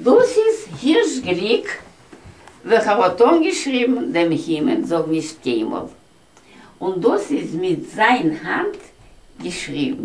דאס איז הירש גליק וועלכער האט אנגעשריבן דעם הימען זאל נישט קיינמאל, און דאס איז מיט זיין האנט געשריבן.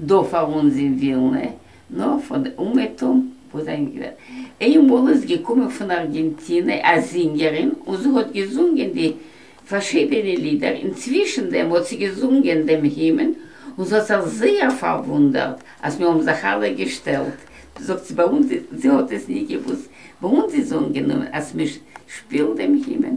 דא פאר אונז אין ווילנע, נאר פאר די אומעטום וואס זענען געווען. איינמאל איז געקומען פון ארגענטינע א זינגערין און זי האט געזונגען די פארשידענע לידער, אינצווישן דעם האט זי געזונגען דעם הימען, און ס'האט זיך זייער פארוואונדערט אז מיר האבן זיך אלע געשטעלט, זאגט זי, ביי אונז, זי האט עס נישט געוואוסט, ביי אונז איז אנגענומען אז מ'שפילט דעם הימען,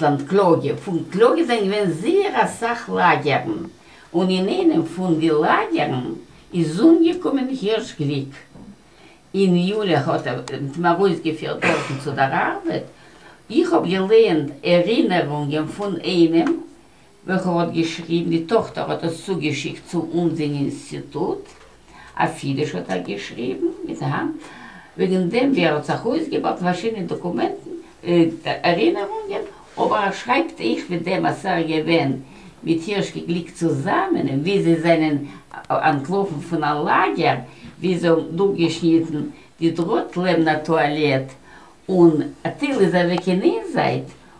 עסלאנד קלאגע, פון קלאגע זענען געווען זייער אסאך לאגערן, און אין איינעם פון די לאגערן איז אומגעקומען הירש גליק, אין יולי האט ער האט אים ארויסגעפירט דארטן צו דער ארבעט, איך האב געלייענט ערינערונגען פון איינעם וועלכער האט געשריבן, די טאכטער האט עס צוגעשיקט צו אונז אין אינסטיטוט, אויף אידיש האט ער געשריבן, מיט א ה, וועגן דעם ווי ער האט זיך אויסגעבארט אין פארשידענע דאקומענטן, ערינערונגען, אבער ער שרייבט אויך ווי דעם אז ס'איז געווען מיט הירש כגליק צוזאמען און ווי זיי זענען אנטלאפן פון א לאגער ווי זיי האבן דורכגעשניטן די דראט לעבן א טואלעט און טיל איז אוועק אין איין זייט